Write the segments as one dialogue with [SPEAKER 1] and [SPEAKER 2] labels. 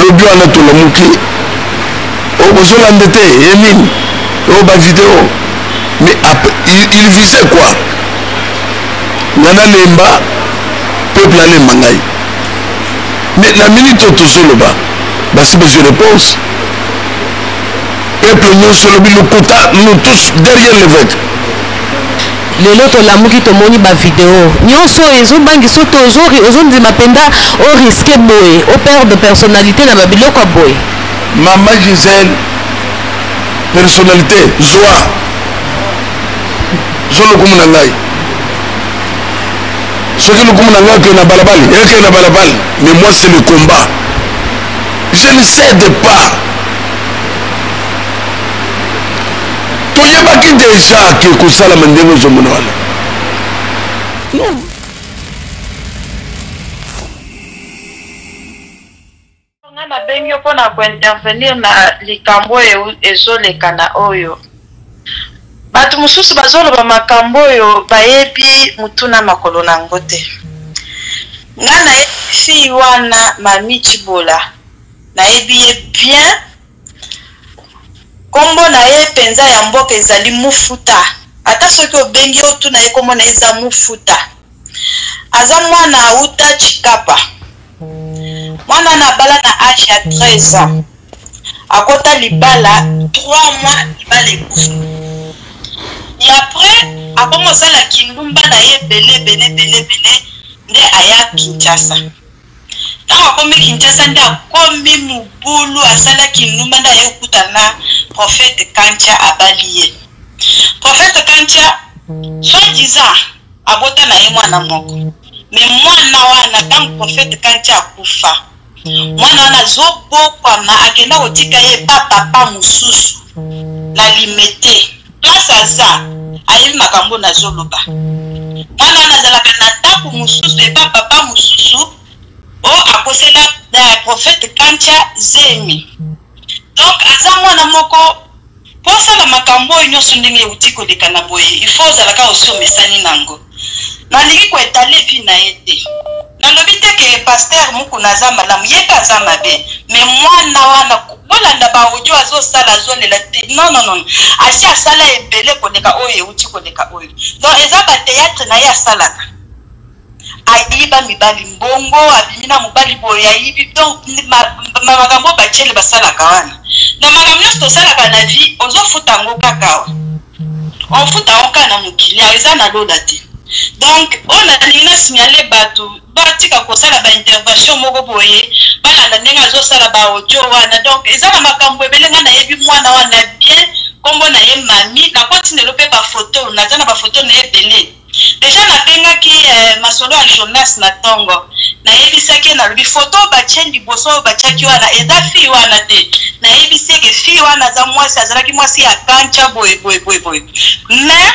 [SPEAKER 1] lobi wana tolamuki oh, bozolanda te ye eh, nini o oh, bavideo mais il visait quoi nga nalemba peuple alemba ngai mais na minute oyo tozoloba basi bazwi réponse peuple nyonso olobi lokuta nous tous derrière l'évêque
[SPEAKER 2] Lelo tolamuki tomoni ba video nionso oyo ezo bangisa yo te ozo ozo ndima penza o risque boye o perdre personnalite na ba biloko ya boye. Maman
[SPEAKER 1] Gisèle personnalite zwa zwa lokumu na ngai soki lokumu na ngai ekei na balabala ekei na balabala mais moi c'est le combat je ne cède pas toyebaki deja ke kosalama ndenge ozomona wana
[SPEAKER 3] non nabengi yo mpo na kointervenir na likambo oyo ezoleka na oyo bato mosusu bazoloba makambo oyo bayebi motuna makolo na yango te nga nayebi fille wana mami cibola nayebi ye bien Kombo na ye penza ya mboka ezali Mufuta. Ata soki obengi ye otuna ye kombo na ye eza Mufuta. Aza mwana auta Tshikapa. Mwana na bala na age ya 13 ans. Akota libala 3 mois libala ekufi. Et après akomi osala kindumba na ye ebele ebele ebele ebele nde aya Kinshasa. ntango akomi kinshasa nde akomi mobulu asala kindumba nde aye okuta na prophète kantia abali ye prophète kantia soit disant abota na ye mwana moko me mwana wana ntango prophète kantia akufa mwana wana azobokwama akenda kotika ye pa papa mosusu na limete place aza ayebi makambo nazoloba mwana wana azalaka na ndako mosusu epa papa mosusu o oh, akosela eh, prophète kantia zemi donc aza mwana moko mpo osala makambo oyo nyonso ndenge euti koleka na boye il faut ozalaka osi omesani na yango Nalingi ko etaler vie na ye te. Nalobi te que pasteur Mukuna aza malamu, ye pe aza mabe. Mais muana wana bolanda ba audio azosala azolela te non non non asi asala ebele koleka oyo euti koleka oyo donc eza ba théâtre na ye asalaka ayiba mibali mbongo abimi na mobali boye ayibi donc makambo bacele basalaka wana na makambo nyonso tosalaka na vie ozofuta yango kaka awa ofuta oka na mokili ayo eza na lola te donc oyo nalingi na signale bato batika kosala baintervention moko boye balanda ndenge azosala baaudio wana donc eza na makambo ebele ngai nayebi mwana wana bien nkombo na ye mami nakotindelo mpe bafoto naza na bafoto na ye ebele Deja nabengaki eh, masolo ya Jonas na tongo nayebisaki ye nalobi foto oyo batye liboso oyo batyaki wana eza fille wana te nayebisi eke fille wana aza mwasi azalaki mwasi ya kancha boye boye boye boye mais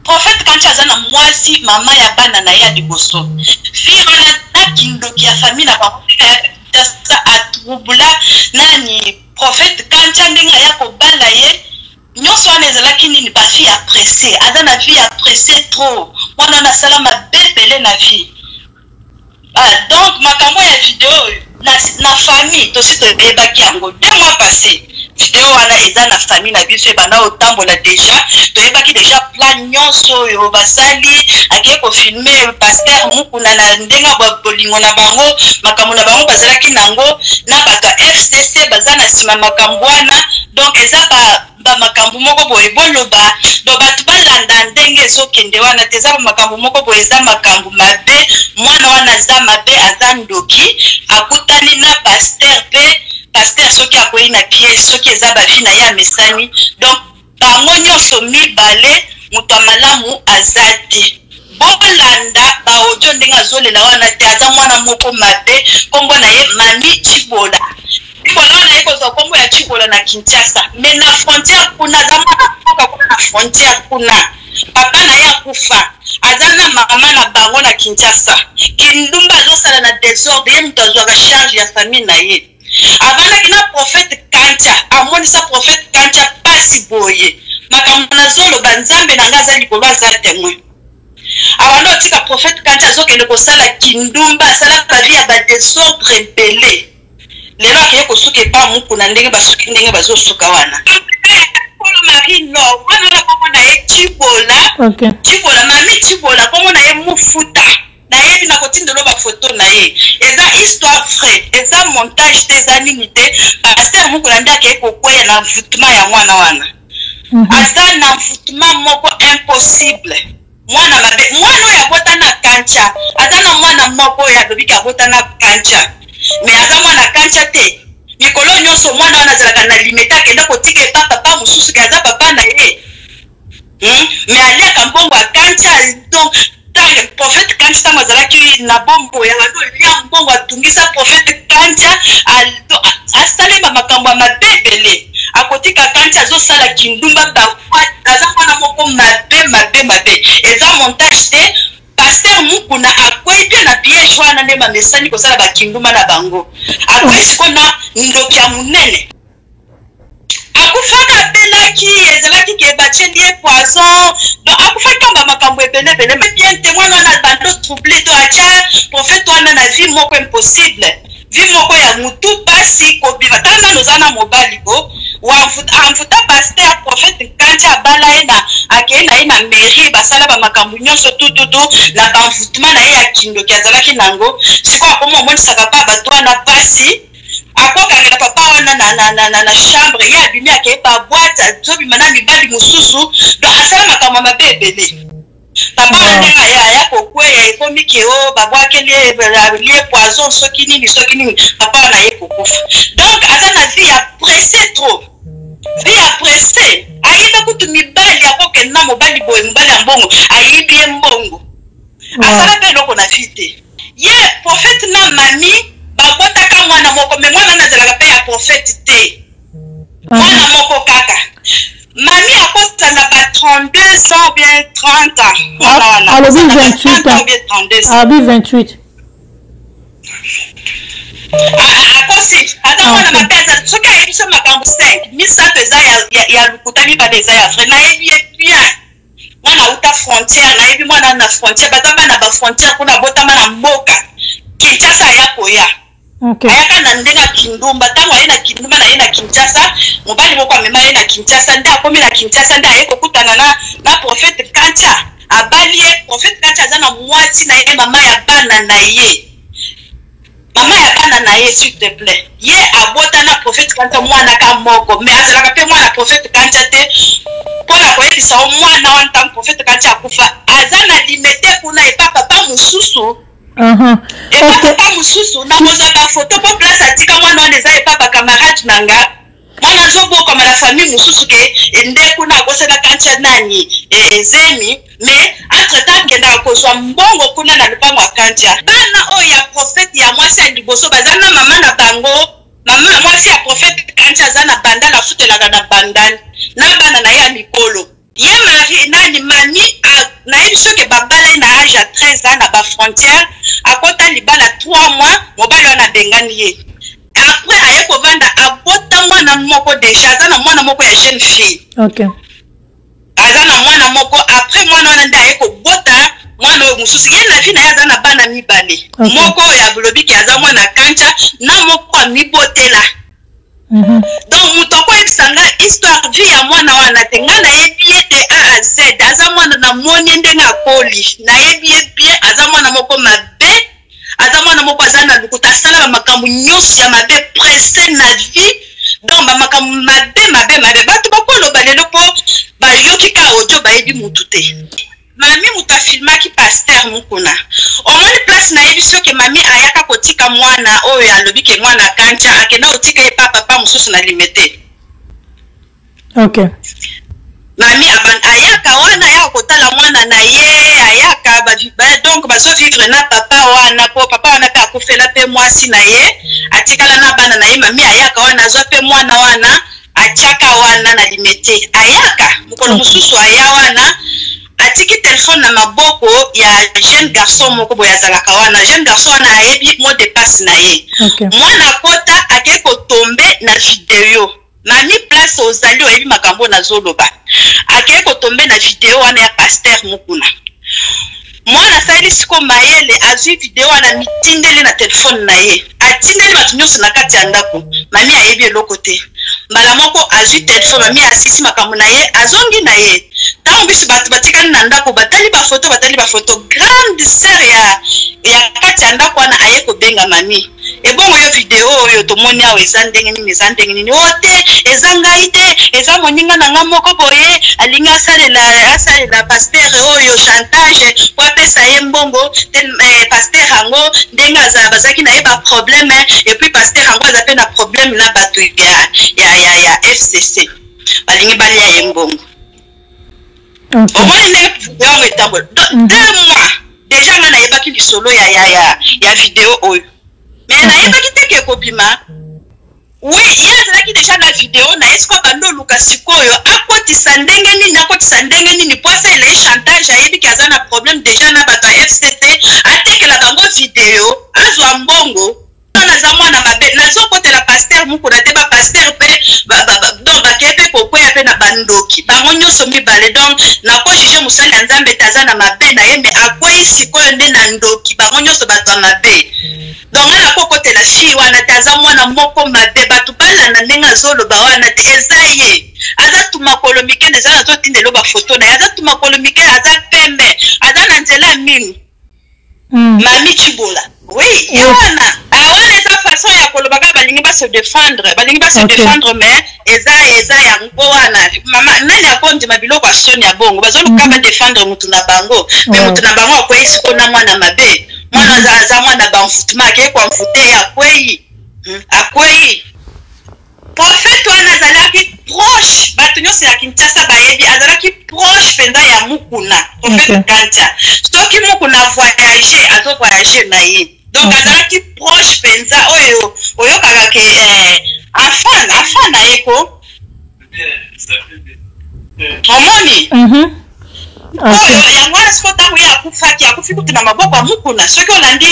[SPEAKER 3] prophète kancha aza na mwasi mama ya bana na ye ya liboso fille wana na kindoki ya famille na bango atrouble nani prophète kancha ndenge aya kobala ye nionso wana ezalaki nini ba vie ya presse aza na vie ya presse trop mwana wana asala mabe ebele na vie ah, donc makambo ya video oyo na, na famille tosi toyebaki yango deux mois passé video wana eza na famille na biso ebanda kotambola deja toyebaki deja plan nyonso oyo basali akei kofilme paster mukuna na ndenge ya bolingo na bango makambo na bango bazalaki na yango na bato ya fcc baza na nsima makambo wana donc eza ba ba makambo moko boye boloba donc bato balanda ndenge ezokende wana te eza ba makambo moko boye eza makambo mabe mwana wana aza mabe aza ndoki akutani na paster mpe paster soki akwei na piège soki eza bavi na ye amesani donc bango nyonso mibale moto ya malamu aza te bolanda baodio ndenge azolela wana te aza mwana moko mabe nkombo na ye mami cibola Likolo na ye kozwa kombo ya Chikolo na Kinshasa, mais na frontière kuna aza mwana mboka kuna na frontière kuna papa na ye akufa aza na mama na bango na kinshasa kindumba azosala na desordre ye moto azwaka charge ya famille na ye avandaki na prophète kantia amonisa prophète kantia pasi boye makambo nazoloba nzambe na ngai aza likolo aza temoin abanda otika prophète kantia azokende kosala kindumba asala bavi ya badesordre ebele lelo akeye kosuka epa mukuna ndenge basuki ndenge bazosuka wana kolo marie lor wana na kombo na ye cibola cibola mami cibola kombo na ye mofuta nayebi nakotindelo bafoto na ye eza histoire vrai eza montage te eza nini te paster mokona nde akei kokweya na envoutement ya mwana wana mhm. aza na envoutement moko impossible mwana mabe mwana oyo abota na kancha aza na mwana moko oyo alobi ke abota na kancha me aza mwana kancha te mikolo nyonso mwana wana azalaka na limeta akenda kotika epa papa mosusu ke aza papa na ye hmm? me aliaka mbongo ya kancha donc prophète kancha ntango azalaki na bombo ya bado lia mbongo atungisa prophète kancha asali bamakambo ya mabe ebele akotika kancha azosala kindumba aza mwana moko mabe mabe mabe eza montage te paster mukuna akwei mpe na piège wana nde bamesani kosala bakinduma na bango akwei siko na ndoki ya monene akufaka apelaki ezalaki ke batieli ye poison donc akufaki kamba makambo ebelebele mpe bien te mwana wana bando trouble to atya profete wana na vie moko impossible vie moko ya mutu pasi kobima tala nano oza na mobali bo amvuta paster prophète nkanti abala ye na akei na ye na mairie basala bamakambo nyonso tututu na banvutema na ye ya kindoki azalaki na yango sikoyo akoma omonisaka pa bato wana pasi akokangela papa wana na, na, na, na, na chambre ye abimi akei pa bwate azobima na mibali mosusu do asala makambo mabe ebele papa wana ndenge aya aya kokweya ekomi ke o oh, babwakeli ye poison soki nini soki nini papa wana aye kokufa donc aza na vie ya presse trop vie ya presse ayeba kutu mibali akokenda mobali boye mobali ya mbongo ayibi ye mbongo asala mpe eloko na vie te ye prophète na mami babotaka mwana moko me mwana nazalaka mpe ya prophète te mwana moko kaka mami akota na ba 32 ans bien 30 ans mwana wana alobi 28 ans bien 32
[SPEAKER 4] ans alobi
[SPEAKER 3] 28 akosi ata mwana mabe aza soki ayebi biso makambo 5 misato eza ya lokuta mibale eza ya vrai nayebi ye bien mwana auta frontière nayebi mwana na frontière baza bana ba frontière kuna abotama na mboka kinshasa aya koya Okay. ayaka na ndenge ya kindumba ntango aye na kindumba na ye na kinshasa mobali moko amema ye na kinshasa nde akomi na kinshasa nde aye kokutana na, na profete kantia abali ye profete kantia aza na mwasi na ye mama ya bana na ye mama ya bana na ye s'il te plaît ye abota na profete kantia mwana ka moko me azalaka mpe mwana profete kantia te mpo na koyebisa yo mwana wana ntango profete kantia akufa aza na limete kuna epa papa mosusu epapa mosusu nakozwa bafoto mpo place atika mwana wana eza epa bacamarade na nga mwana azobokama na famille mosusu ke nde kuna akosana kantia nani ezemi eh, mais entre temps akendaka kozwa mbongo kuna na lopango ya kantia bana oyo ya profete ya mwasi ya liboso baza na mama na bango mama mwasi ya profete kantia aza na bandal afutelaka na bandal na bana na ye ya mikolo ye mari nani mami nayebi soki babala ye na age ya 13 ans na bafrontière akota libala 3 mois mobali wana abengani ye après aye kovanda abota mwana moko deja aza na mwana moko ya jeune fille okay. aza na mwana moko après mwana wana nde aye kobota mwana oyo mosusu ye na vi na ye aza na bana mibale okay. moko oyo abolobi ke aza mwana kanca na moko amibotela Mhm. donc moto akoyebisa nga histoire vie ya mwana wana te nga nayebi ye de a a z aza mwana namoni ye ndenge akoli nayebi ye bien aza mwana moko mabe aza mwana moko aza na lokuta asala bamakambo nyonso ya mabe presse na vie donc bamakambo mabe mabe mabe bato bakoloba lelo mpo bayoki ka audio bayebi motu te Mami moto afilmaki pasteur Mukuna. Omoni place nayebisi yo ke mami ayaka kotika mwana oyo alobi ke mwana kancha akenda kotika ye pa papa mosusu na limete. Okay. Mami aban ayaka wana ayaka kotala mwana na ye ayaka ba, ba, donc bazo vivre na papa wana po papa wana pe akufela pe mwasi na ye atikala na bana na ye mami ayaka wana azwa pe mwana wana atiaka wana na limete ayaka mokolo mm. mosusu aya wana atiki telefone na maboko ya jeune garçon moko boye azalaka wana jeune garçon wana ayebi mo depasse na ye okay. mwana akota akei kotombe na video mami place ozali oyebi makambo nazoloba akei kotombe na video wana ya paster mokuna mwana asaleli siko mayele azwi video wana mitindeli na telefone na ye atindeli bato nyonso na kati ya ndako mami ayebi eloko te mbala moko azwi telefone mami asisi makambo na ye azongi na ye ntango biso bato batikali na ndako batali bafoto batali bafoto grande sere ya, ya kati ya ndako wana aye kobenga mami ebongo yo video oyo tomoni awa eza ndenge nini eza ndenge nini o oh, te eza ngai te eza moninga na nga moko boye alingi asalela asalela paster oyo chantage po apesa ye mbongo te eh, paster yango ndenge aza bazalaki na ye baprobleme epuis paster yango aza mpe na probleme na bato ya, ya, ya, ya fcc balingi balia ye mbongo omoni ndenge video yango etambola mhm. deux mois deja nga nayebaki lisolo ya, ya, ya, ya video oyo me mhm. nayebaki te ke ekobima oui ye azalaki deja na video na ye sikoyo abandi oluka sikoyo akotisa ndenge nini akotisa ndenge nini po asala ye chantage ayebi ke aza na problème deja na bato ya fcc atekela bango video azwa mbongo naza mwana mabe nazokotela paster mukuna te bapaster mpe don bakeye mpe kokweya mpe na bandoki bango nyonso mibale donc nakojuge mosali ya nzambe te aza na mabe na ye me akwei sikoyo nde na ndoki bango nyonso bato ya mabe donc nga nakokotela fille wana te aza mwana moko mabe bato balanda ndenge azoloba wana te eza ye aza tumakolo mike nde eza nazotindelo bafoto na ye aza tumakolo mike aza pembe aza na nzela ya minu Mm. Mami Chibola. Oui, il y en a. Ah, on est à façon ya koloba ka balingi ba se défendre, balingi ba se okay. défendre mais eza eza ya ngoana. Mama nani akondi mabilo kwa son ya bongo. Bazo luka mm-hmm. ba défendre mutu na bango, mais mutu na bango akwei siko na mwana mabe. Mwana mm-hmm. za za mwana ba mfutuma ke kwa mfute ya kwei. Hmm, akwei. Prophète wana azalaki proche bato nyonso ya Kinshasa bayebi azalaki proche mpenza ya Mukuna prophète okay. Kantia soki Mukuna voyage azo voyage na ye donc okay. azalaki proche mpenza oyo oyokaka ke eh, afana afana ye ko omoni mm -hmm. oyo yango wana siko ntango ye akufaki akufi kutu na maboko ya mukuna soki olandi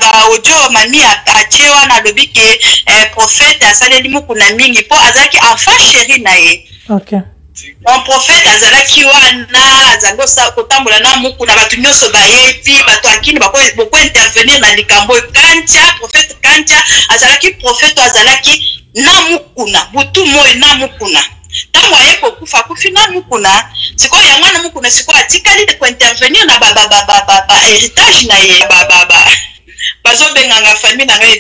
[SPEAKER 3] baaudio mami atie wana alobi ke eh, profete asaleli mukuna mingi mpo azalaki enfant chéri na ye okay. mon prophète azalaki wana azali kotambola na muku na bato nyonso bayebi bato akini bokointervenir na likambo oyo kantia prophète kantia azalaki prophète azalaki na mukuna butu moi na mukuna ntango aye kokufa akufi na mukuna sikoyo yango wana mukuna sikoyo atikali kointervenir na baheritage na ye bazobenganga famille na ngai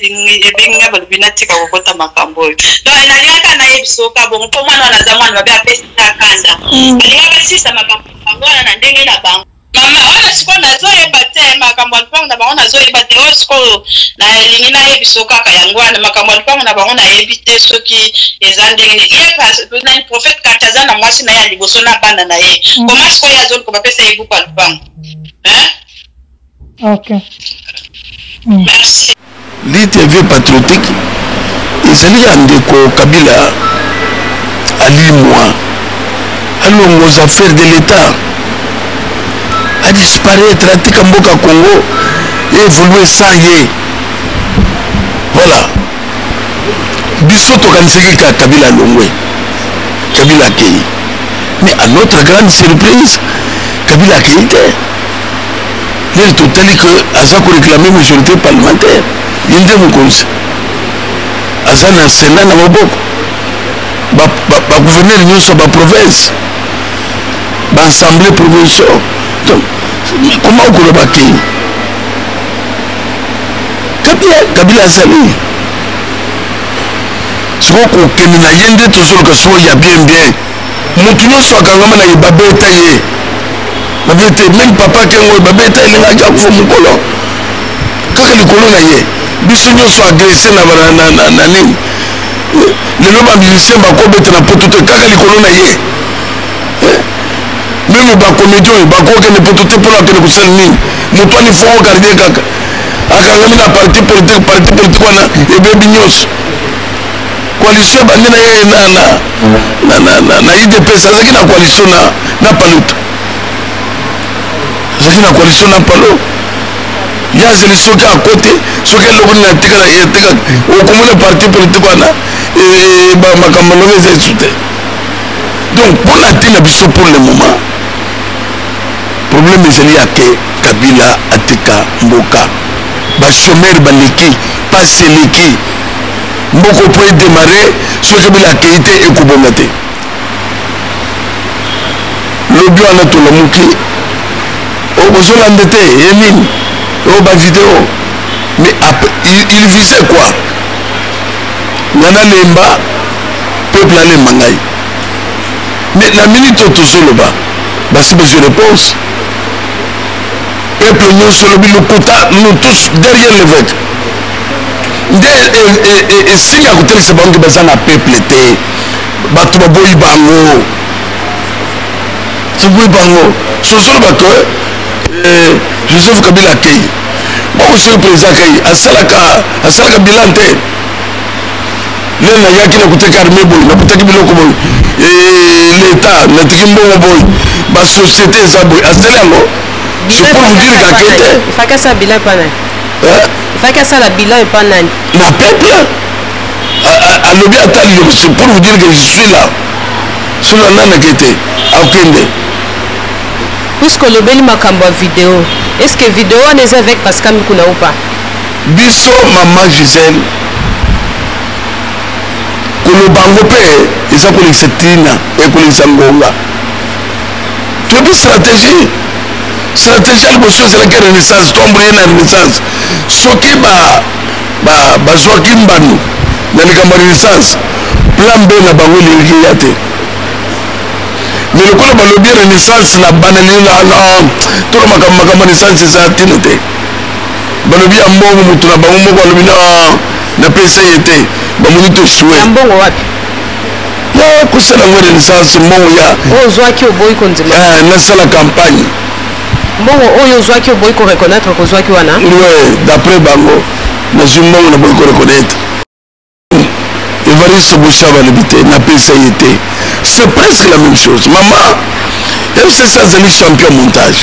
[SPEAKER 3] ebengi ngai balobi natika kokota makambo oyo donc nalingaka nayebisoka bongo mpo mwana wana aza mwana babe apesi na kanda mm. nalingaka sisa makambo yango wana na ndenge na bango Mama wana sikoyo nazoyeba te makambo ya lupango na bango nazoyeba te oyo sikoyo nalingi nayebiso kaka yango wana makambo ya lupango na bango nayebi te soki eza ndenge nini ye pas- nani prophète kati aza na mwasi na ye ya liboso na bana na ye Mm. koma sikoyo ye azoluka bapesa ye buku ya lupango Hein? ok Mm. merci Lutte ya vieux
[SPEAKER 1] patriotique ezali ya ndeko Kabila alimwa alongo aux affaires de l'État a disparaître atika mboka Congo et évoluer sans ye voilà biso tokanisaki ka Kabila alongwe Kabila akei mais à notre grande surprise Kabila akei te ye totali ke aza koreklame majorité parlementaire ye nde mokonzi aza na sena na maboko bagouverneur nyonso ya baprovince baassemblée provincial donc koma okoloba te kabila azali sikoyo kokende na ye nde tozoloka sikoyo ya bien bien moto nyonso akangama na ye babeta ye babete meme papa kengo babeta ye ndenge aja kufa mokolo kaka likolo na ye biso nyonso agrese na nini lelo bamilisien bakobeta na poto te kaka likolo na ye eh? meme bakomedi oyo bakokende poto te mpona akende kosala nini moto ani fongo gardie kaka akangami na parti politique parti politique wana ebebi nyonso coalition ebandi na ye na, na, na, na, na, na idps azalaki na coalition na, na paluta azalaki na coalition na palo ye azeli soki akote soki eloko nini atikala etikala okomona parti politique wana e, e, makambo eloko eza esu te donc mpo na te na biso pour le moment problème ezali ya ke kabila atika mboka bachomere baleki pasi eleki moko po edemare soki kabila akei te ekobonga te lobi wana tolamuki oh, bozolanda te ye nini o oh, bavideo mais il visait quoi nga nalemba peuple alemba ngai mais na minute oyo tozoloba basi bazwi réponse peuple nyonso olobi lokuta nous tous derrière l'évêque nde esili ya kotelisa bango ke baza na peuple te bato baboyi bango baboyi bango sozoloba ke eh, joseph kabila akei bakosoki président akei asalaka asalaka bilan te lelo nayaki nakutaki arme boye nakutaki biloko boye eh, leta natiki mbongo boye basociété eza boye asali yango je pour vous dire kake te
[SPEAKER 2] faki asala bilan epa nani na peuple
[SPEAKER 1] alobi ata liloba c'est pour vous dire que je suis là soki ananaki te akende
[SPEAKER 2] puisque olobeli makambo ya video est ce que video wana eza avec pascal mikuna ou pas biso
[SPEAKER 1] mama gisele koloba yango mpe eza kolekisa ntina ekolekisa ngonga toyebi stratégie stratégie ya liboso ezalaki renaissance toamboye na renaissance soki bazwaki mbano na likambo ya renaissance plan b na bango elingaki eya te me lokola balobi renaissance na banalina tolo makambo makambo renaissance eza ntina te balobi ya mbongo moto na bango moko alobi na napesa ye te bamoni tosue
[SPEAKER 2] ya
[SPEAKER 1] kosala yango renaissance mbongo ya oyo ozwaki oboyi
[SPEAKER 2] kondima eh, nasala campagne
[SPEAKER 1] mbongo
[SPEAKER 2] oyo ozwaki oboyi koreconnaitre kozwaki wana we d'après
[SPEAKER 1] bango nazwi mbongo na boyi koreconnaitre evariste boshaba alobi te napesa ye te c'est presque la même chose mama mcc azali champion montage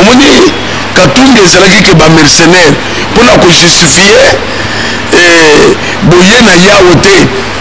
[SPEAKER 1] omoni katumbi ezalaki ke bamercenaire mpona kojustifie eh, boye na yawo te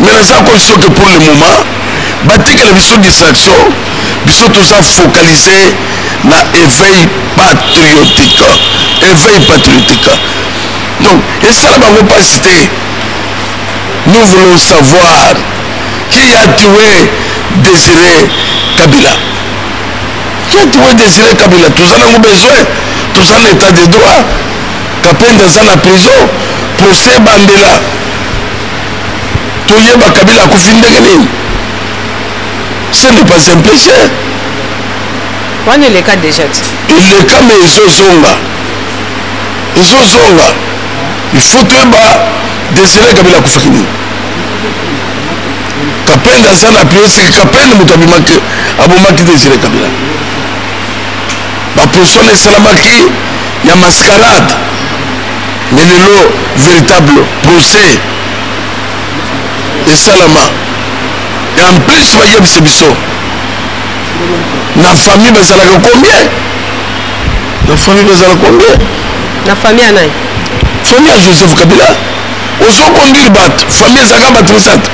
[SPEAKER 1] mais naza ko soki pour le moment batikela biso distraction biso toza focalise na éveil patriotique éveil patriotique donc esala bango mpasi te nous voulons savoir qui a tué désiré kabila qui a tué désiré kabila toza nango besoin toza na état de droit kapenda aza na prison procès bandela toyeba kabila akufi ndenge nini ce n'est pas un péché
[SPEAKER 2] wana eleka déjà ti eleka me
[SPEAKER 1] ezozonga ezozonga il faut toyeba desire kabila akufaki nini kapende aza na piosiki kapende moto abimaki abomaki desire kabila baposition esalamaki ya mascarade mais lelo véritable procès esalama et en plus bayebisi biso na famille bazalaka combien na famille bazala combien na famille ya nani
[SPEAKER 2] famille ya
[SPEAKER 1] joseph kabila ozokonduire bato famille ezalaka bato misato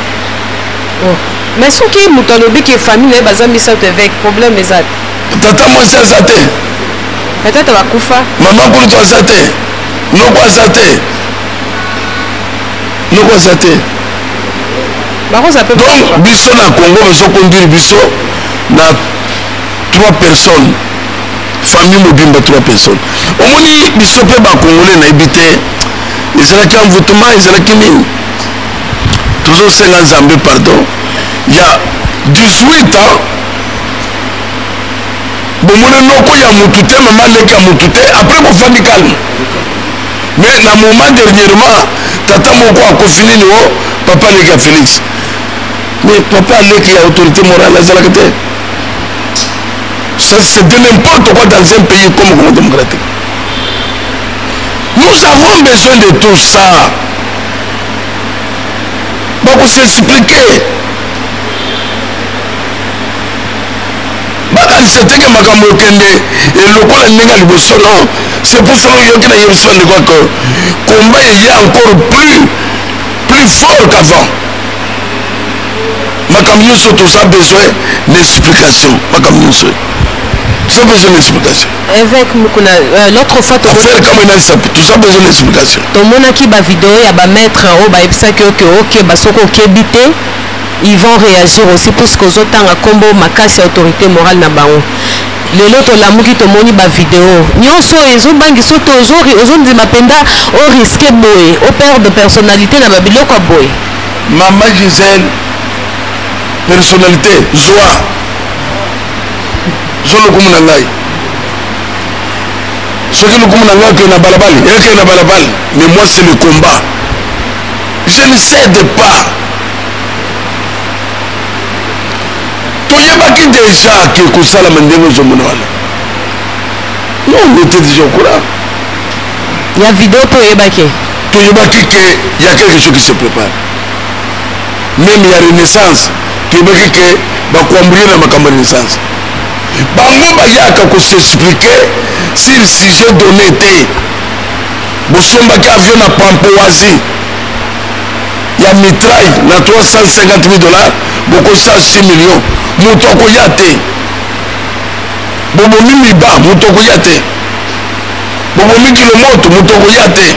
[SPEAKER 1] oh.
[SPEAKER 2] mais soki moto alobi ke famille na ye baza misato eveke problème eza te tata mwasi
[SPEAKER 1] aza te batata
[SPEAKER 2] bakufa mama nkulutu aza
[SPEAKER 1] te noko aza te noko aza te donc biso na congo bazokonduire biso na trois personnes famille mobimba trois personnes omoni biso mpe bacongolais nayebi te ezalaki envoutema ezalaki nini tozosenga nzambe pardon ya 18 ans bomoni noko ya mutu te mama leki ya mutu te après bofandi calme mais na moment dernièrement tata moko akofi nini o oh, papa leki ya félix mais papa leki ya autorité morale azalaka te c'est de n'importe quoi dans un pays comme congo démocratique nous avons besoin de tout ça bakosexpliquer bakanisa te ke makambo ekende elokola ndenge ya liboso non c'est pour cela oyoki na yebisi bandeko que combat eye encore plus plus fort qu'avant makambo nyonso toza besoin na explication makambo nyonso toza besoin na explication évêque mukuna
[SPEAKER 2] euh, l'autre fois affaire kama enalisa
[SPEAKER 1] toza besoin na explication tomonaki bavideo
[SPEAKER 2] ya bamaître oyo bayebisaki oke oke basoki okebi te ils vont reagir aussi puisque ozotanga kombo makasi ya autorité morale na bango lelo tolamuki tomoni bavideo nyonso oyo ezobangisa oyo tozori ozondima mpenza oriske boye operde personnalité na babiloko ya boye mama
[SPEAKER 1] gisele personnalité zwa zwa lokumu na ngai soki lokumu na ngai ekei na balabali ekei na balabali mais moi c'est le combat je ne cède pas toyebaki deja ke kosalama ndenge ozomona wana no on était déjà au courant
[SPEAKER 2] ya video mpe oyebaki toyebaki ke
[SPEAKER 1] ya quelque chose qui se prépare meme ya renaissance toyebaki ke bakoambrie na makambo ya renaissance bango bayaka kosexplike sur sujet donné te bosombaki avion na pampoasie ya mitraille na 350 000 dollars bokosa 6 millions moto akoya te bobomi miba moto akoya te bobomi kilomoto moto akoya te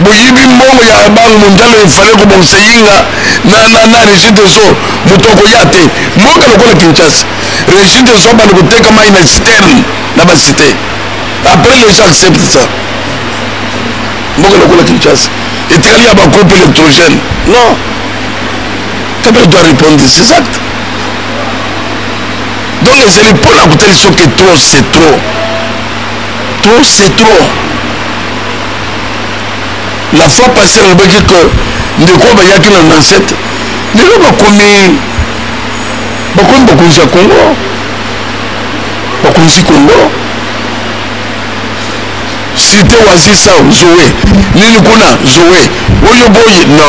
[SPEAKER 1] boyibi mbongo ya bango mondiale efale kobongisa yinga na, na, na regi des eaux moto akoya te mboka lokola kinshasa regi des eaux banda koteka mai na citerne na bacité après les gens accepte ça mboka lokola kinshasa etikali ya bagroupe électrogène non kabila doit répondre de ses actes donc ezali mpo na kotali soki trop c'est trop trop c'est trop la fois passé nalobaki que ndeko bayaki na nansete lelo bakomi bakomi bakonzi ya congo bakonzi congo Site Wazir Sound Zoe nini kuna Zoe oyo boyi no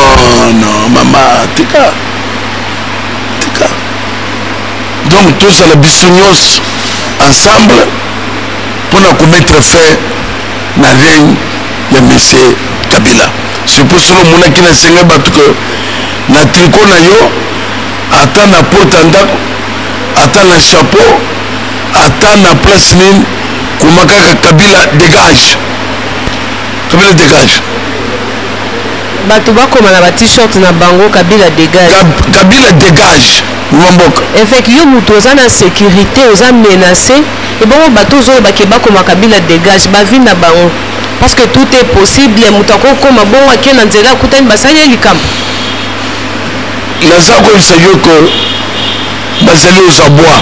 [SPEAKER 1] no mama tika tika donc tozala biso nyonso ensemble mpo na komettre fin na règne ya monsieur kabila surtout solo omonaki na esenga bato ke na triko na yo ata na porte ya ndako ata na chapeau Ata na place nini koma kaka Kabila dégage. Kabila dégage. Bato
[SPEAKER 2] bakoma na ba t-shirt na bango Kabila dégage. Kab Kabila dégage.
[SPEAKER 1] Mboka. Avec
[SPEAKER 2] yo moto oza na sécurité, oza menacé. Et bon bato zo ba ke bakoma Kabila dégage ba vie na bango. Parce que tout est possible, moto akokoma bongo ake na nzela akutani basali likambo.
[SPEAKER 1] Naza koyebisa yo ko bazali oza bwa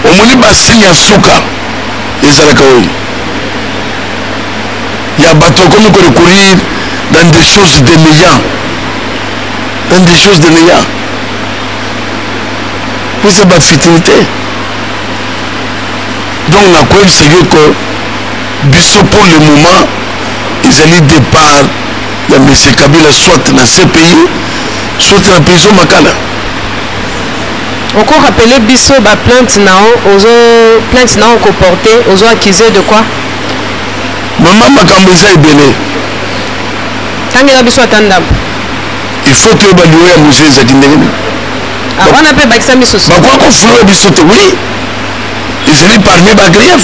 [SPEAKER 1] omoni ba signe ya suka ezalaka oyo ya bato akomi ko recourir dans des choses de néant dans des choses de néant eza ba futilité donc nakoyebisa yo ko biso pour le moment ezali départ ya monsieur kabila soit na cpi soit na prison makala oko
[SPEAKER 2] rappeler biso ba plainte na yo ozo plainte na yo koporte ozo accuse de quoi
[SPEAKER 1] mama makambo eza ebele
[SPEAKER 2] tangela biso ata ndambo il
[SPEAKER 1] faut toyeba liyo ya moje ezalaki ndenge nini ah, wana
[SPEAKER 2] mpe bakisa misusu bakoki kofulula biso
[SPEAKER 1] te oui ezali parmi bagrief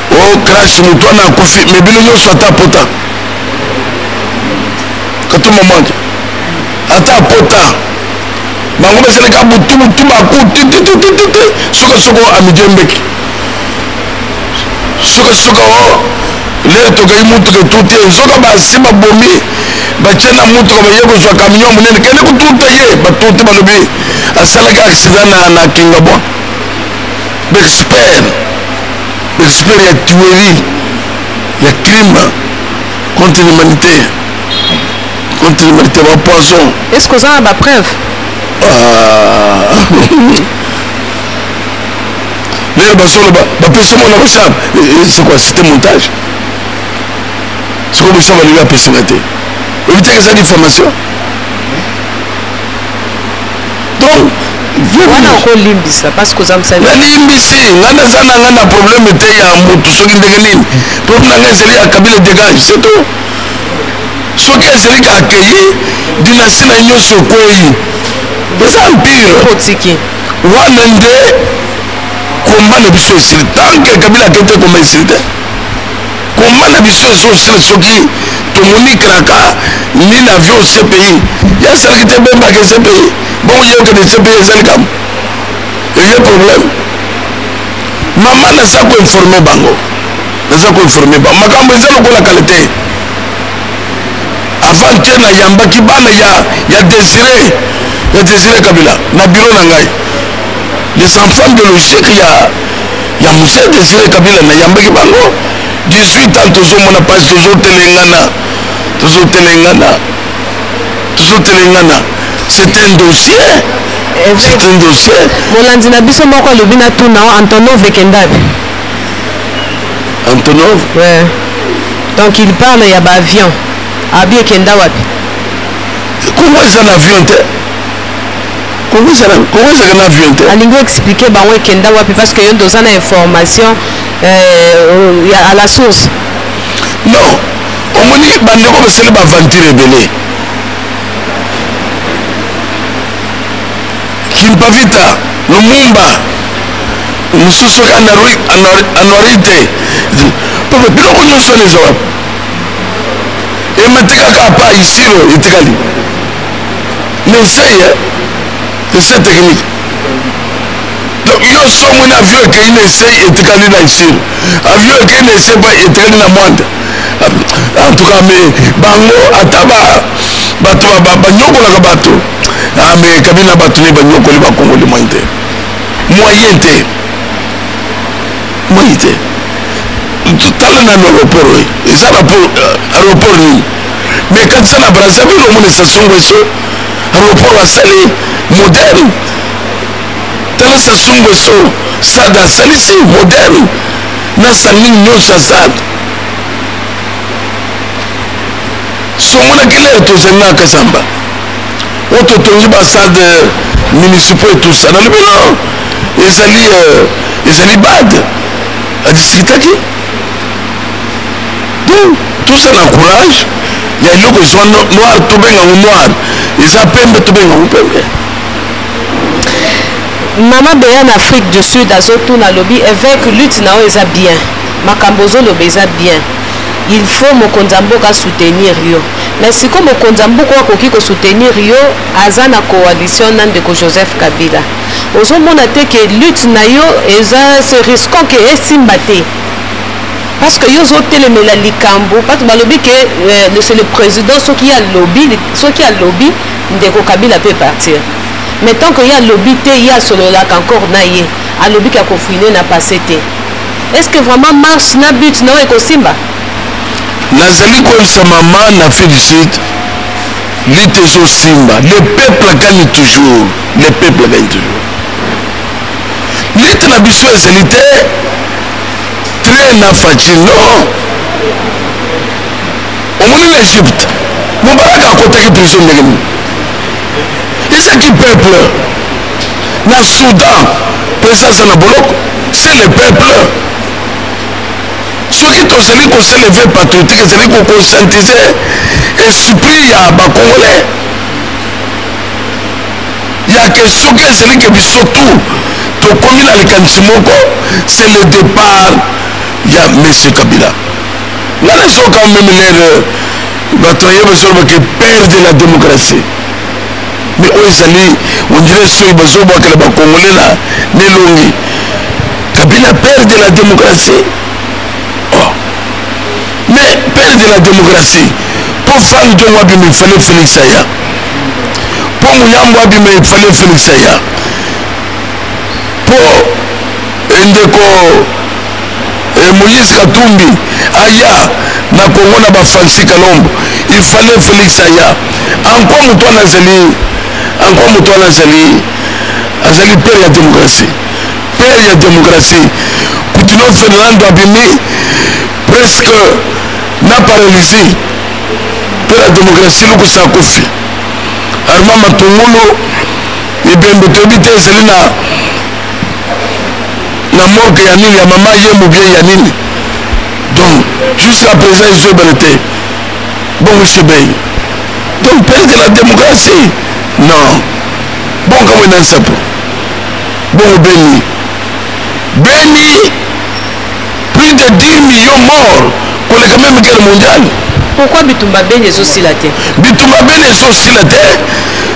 [SPEAKER 1] o oh, crash moto wana akufi me bino nyonso ata apota katuma mwanje ata apota bango basalaka butubutu baku tititititi sukasuka amidi embeki sukasuka o oh, lere tokei motuka etuti ye nzoka basi babomi batye na motuka baye kozwa kamio monene kende kotuta ye batuti balobi asalaki aksida na kingabwa bexpert Esprit ya tuerie ya crime contre l'humanité contre l'humanité ba poison. Est-ce que oza na ba
[SPEAKER 2] preuve? Ah.
[SPEAKER 1] Lelo basolo ba ba pesa mwana ba charme. Eh, eh, c'est quoi? C'était montage. C'est quoi bosaba lelo apesaka te? Obitaka eza diffamation? donc
[SPEAKER 2] wana okolimbisa parce que oza mosali nalimbisi ngai
[SPEAKER 1] naza na ngai na problème te ya motu soki ndenge nini problème na ngai ezali ya kabila dégage c'est tout soki ezali ka akeyi dinasti na nyonso ekweyi eza empire otiki
[SPEAKER 2] wana nde
[SPEAKER 1] komba na biso esili tanke kabila akei te komba esili te Combat na biso ezo sila soki tomoni kraka ni na avion CPI ya salaki te bemba ke CPI bon yo ke de CPI ezali kam eye problème mama naza ko informer bango naza ko informer bango makambo eza lokola kale te avant te nayambaki bana ya ya désiré ya désiré kabila na biro na ngai les enfants biologiques ya ya muse desire kabila nayambaki bango 18 ans tozomona mpasi tozotelengana tozotelengana tozotelengana c'est un dossier c'est un dossier
[SPEAKER 2] molandi na biso moko alobi na tuna antonov ekendaki
[SPEAKER 1] antonov ouais.
[SPEAKER 2] donc il parle ya baavion abi ekenda wapi
[SPEAKER 1] kongo eza na avion te Congo ezala Congo ezalaka na avion te. Alingi expliquer bango
[SPEAKER 2] ekenda wapi parce que yo nde oza na information euh, ya à la source. Non,
[SPEAKER 1] omoni bandeko basali ba aventure ebele. Kimpavita, Lumumba, mosusu anuarite papa biloko nyonso wana eza wapi ematikaka apa isiro etikali n'essaye hein? essai technique donc yo so omoni avion ekei na essai etikali na chine avion ekei na essai pa etikali na mwanda en tout cas mais bango ata bato banyokolaka bato ah, mais kabila bato ne banyokoli bakongoli moyen te moyen te moyen te tala nano aéroport oyo eza aéroport nini mais quand ça na brazzaville omona sassou nguesso aéroport asali moderne tala sassou nguesso sada asalisi moderne na salling nyonso asala somonaki lere tozali na kasamba oyo totongi basade municipaux etusa nalobi no ezali euh, ezali bade adiskitaki tout tout ça na courage ya eloko ezwa noir tobenga ngo noir eza pembe tobenga ngo pembe
[SPEAKER 2] mama beya na afrique du sud azotuna alobi évêque lutte na yo eza bien makambo ozoloba eza bien il faut mokonzi ya mboka soutenir yo mais sikoyo mokonzi ya mboka oyo akoki kosoutenir yo aza na coalition na ndeko joseph kabila ozo mona te que lutte na yo eza se risquant que esimba te parce que yo ozo telemela likambo bato balobi que euh, c'est le président soki alobi soki alobi ndeko kabila peut partir mais tant que ye alobi te ye asololaka encore na ye alobi ke akofine na passe te est ce que vraiment marche na but na oyo ekosimba
[SPEAKER 1] nazali koyebisa mama na fille du sud lite ezosimba le peuple akani toujours le peuple gagne toujours lite na biso ezali te train na faci non omoni na egypte mobalaka akotaki prison ndenge nini ezaki peuple na soudan mpenza aza na boloko se le peuple soki tozali koseleve patriotique ezali kokonscientise esprit ya bacongolais ya ke soki ezali ke biso tout tokomi na likanisi moko c'est le départ ya monsieur kabila nga nazoka meme lere bato ya ye bazolobake père de la démocratie me oyo ezali ondire soki bazobwakela bakongole na nelongi kabila père de la démocratie oh. mais père de la démocratie po fali tongo abimi fale felix aya mpo muyambo abima efale felix aya mpo endeko eh, moïse katumbi aya na kongo na bafansi kalombo ifale felix aya ankwa moto wana azali ankwa moto wana azali azali pere ya demokrasi pere ya demokrasi kutino fernando abimi presque na paralysie mpo na demokrasi lukusa ya kofi arma matungulu mibembe toyebi te ezali na na morke ya nini ya mama ye mobie ya nini donc jusqu'à présent ezobele te bongo sebei donc perdre la démocratie non bongo kamwe na nsapo bongo beni beni Plus de 10 millions morts koleka meme guerre mondiale. Pourquoi bitumba
[SPEAKER 2] beni ezosila te? Bitumba beni
[SPEAKER 1] ezosila te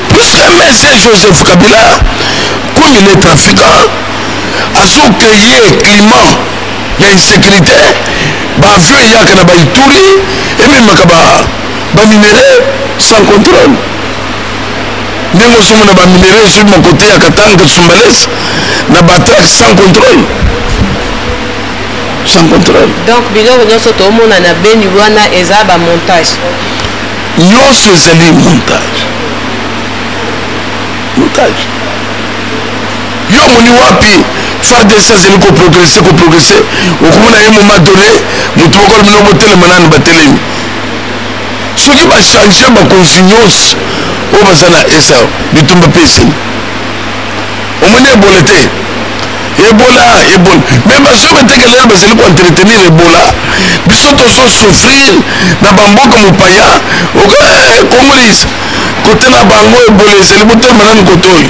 [SPEAKER 1] puisque Monsieur Joseph Kabila comme il est trafiquant azokreye climat ya insécurité baavion eyaka na baituri ememaka baminerais sans contrôle ndenge ozomona ba minerais ezwi mokote ya katanga katsumbales na batrac sans contrôle sans contrôle donc biloko nyonso
[SPEAKER 2] toomona na beni wana eza bamontage
[SPEAKER 1] nyonso ezali montage montage yo omoni wapi fardc azali koprogrese koprogrese okomona ye moma donne motu moko alobino botelema nanu batelemi Soki ba changer bakonzi nyonso oyo baza na esa bitumba mpe esili omoni ebola te ebola ebola me bazoba eteke lelo bazali koentretenir ebola biso tozo souffrir na bamboka mopaya eh, congolais kotala bango ebola ezali botelema nani kotoyo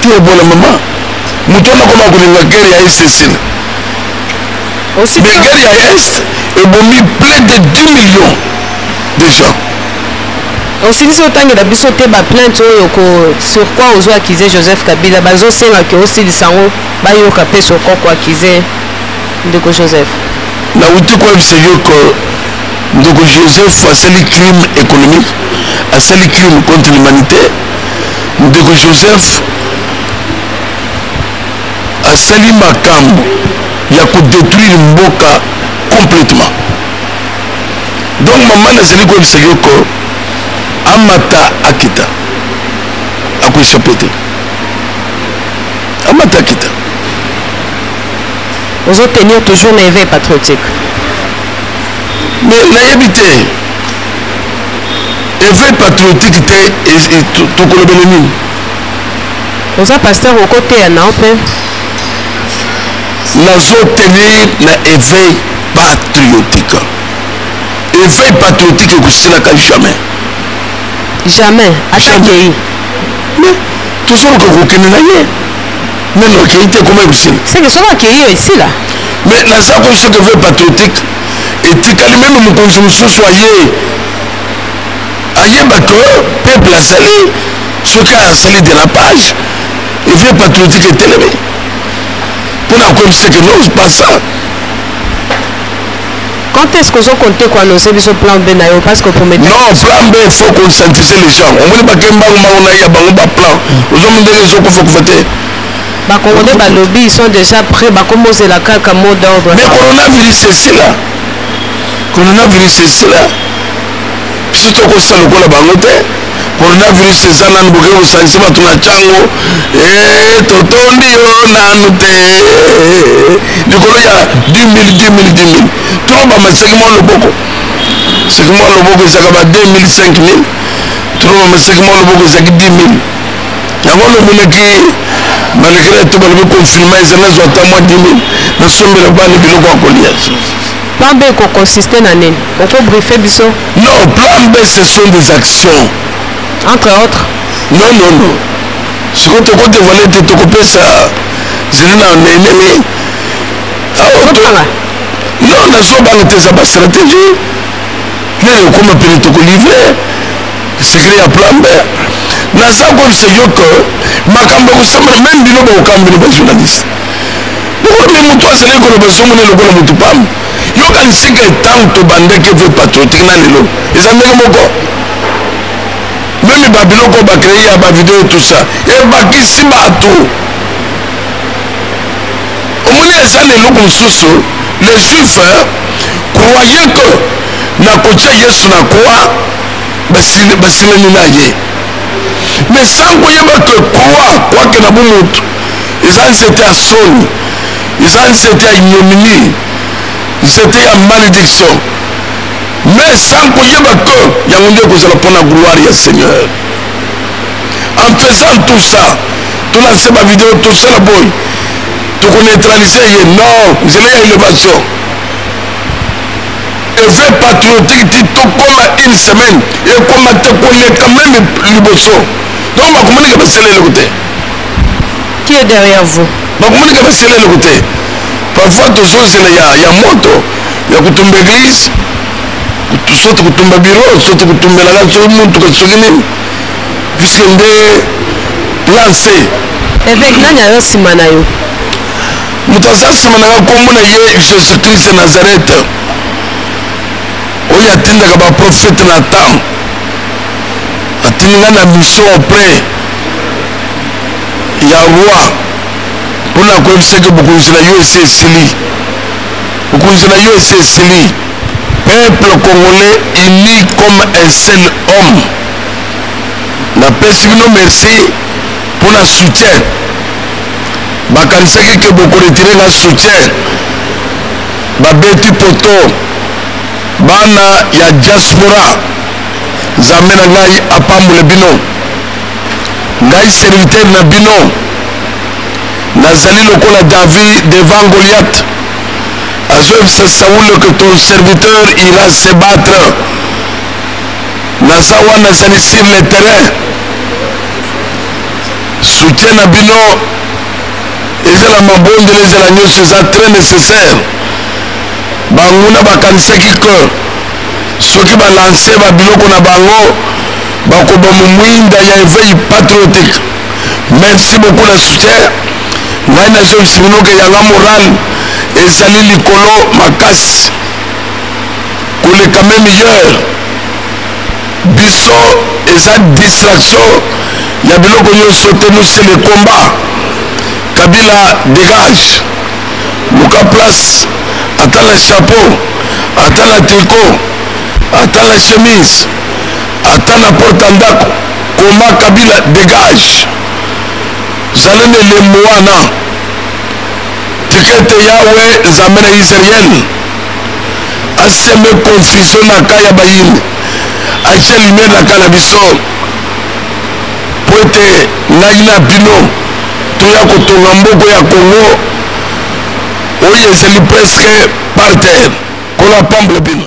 [SPEAKER 1] Te bola mama. Moto wana koma kolinga guerre ya est esila. Mais guerre ya est ebomi plus de 10 millions de gens.
[SPEAKER 2] osilisi otangela biso te baplainte oyo ko sur quoi ozo akize joseph kabila bazosenga ke osilisa yango bayoka mpe sur quoi koakize ndeko joseph nauti
[SPEAKER 1] koyebisa yo ke ndeko joseph asali crime économique asali crime contre l'humanité ndeko joseph asali makambo ya kodetruire mboka complètement donc mama nazali koyebisa yoko amata akita akoechape te amata akita
[SPEAKER 2] ozo tenir toujours na éveil patriotique
[SPEAKER 1] mais nayebi te eveil patriotique te tokolobele nini
[SPEAKER 2] oza pasteur okoteya nao mpe
[SPEAKER 1] nazotenir na eveil patriotique eveil patriotique ekosilaka jamais
[SPEAKER 2] jamais atakei
[SPEAKER 1] tozoluka kokende na ye nano akei te ekoma ekosila seke soki akei yo
[SPEAKER 2] esila mais naza
[SPEAKER 1] koyebisa ke eveil patriotique etikali meme mokonzi mosusu aye ayeba que peuple azali soki asali dérapage eveil patriotique etelemi mpo na koyebisa que non pas ça
[SPEAKER 2] quand est-ce qu'on compte quoi nos émissions plan B na yo parce que pour mettre non plan B il faut
[SPEAKER 1] conscientiser les gens omoni bakembango mango na ye ya bango baplan ozomindenge ezokufa kufa te Ba congolais
[SPEAKER 2] ba lobby ils sont déjà prêts ba komo zela kaka mot d'ordre. Mais coronavirus c'est
[SPEAKER 1] sila. Coronavirus c'est sila. Biso to ko sala lokola bango te. Coronavirus eza nanu boke ko sanisa bato na chango. Eh totondi yo nanu te. Likolo ya 2000 2000 2000. Trop ba maseki mo loboko. Seki mo loboko ezaka ba 2000 5000. Trop ba maseki mo loboko ezaki 10000. yango lobeleki balekela eto balobi konfinema ezali nazwa ata mwa dimi nasombela bana biloko ya kolia plan b
[SPEAKER 2] ekokonsiste na nini okobrife biso non plan b
[SPEAKER 1] ce sont des actions entre
[SPEAKER 2] autres non non non
[SPEAKER 1] sikoyo tokodevoile te tokopesa zeli na enemi ah, non nazobanga te eza bastratégie nani okoma pene tokolivre sikili ya plambe naza koyebisa yo ke makambo ya kosambela meme bino bakokambi bino bajournaliste lokola motu azalaki koloba ezomona lokola motu pamba yokanisi ke ntango tobandaki epe patriotique na lelo eza ndenge moko meme babiloko bakrei ya bavideo tout ça ebakisi bato omoni eza na eloko mosusu les juifs croyez que nakotia yesu na croix basilani na ye me sans koyeba ke kwa kwake na bomoto eza nzete ya soni eza nzete ya ignominie nzete ya malediction me sans koyeba ke yango nde ekozala mpona gloire ya seigneur en faisant tout ça tolanse bavideo tosala boye tokoneutralise ye non nzela ya elevation Eve patriotique ti tokoma une semaine ekoma te koleka meme liboso donc bakomonika basela eloko te
[SPEAKER 2] qui est derrière vous bakomonika basela
[SPEAKER 1] eloko te parfois tozozela ya, ya moto ya kotumba église soki kotumba biro soki kotumbelaka soki motuka soki nini puisque nde plan c eveke nani
[SPEAKER 2] aza nsima na yo Moto
[SPEAKER 1] aza nsima na ngai, nkombo na ye Jesus Christ ya Nazareth, oyo atindaka baprofete na temps atindi ngai na mission auprès ya roi mpo na koyebisaki bokonzi na yo esi esili bokonzi na yo esi esili peuple congolais uni comme un seul homme napesi bino merci mpo na soutien bakanisaki ke bokoretire nga soutien babeti poto bana ya diaspora nzambe na ngai apambole bino ngai serviteur na bino nazali lokola david devant goliath azoyebisa saule ke ton serviteur ira se battre naza wana nazali sur le terrain soutien na bino ezala mabondeli ezala nyonso eza très nécessaire banguna bakanisaki que soki balanse babiloko na bango bakoba momwinda ya eveil patriotique merci beaucoup na soutien ngai nazongisi bino ke yanga moral ezali likolo makasi koleka meme heure biso eza distraction ya biloko nyonso te nous c'est le combat kabila dégage luka place ata na chapeau ata na tricot ata na chemise ata na porte ndako koma kabila dégage zala na elembo wana tikete yawe nzambe na israele aseme confusion na ka ya bayini atia lumière na ka na biso mpo ete ngai na bino toya kotonga mboko ya congo oyo ezali presque par terre nkolo apambole bino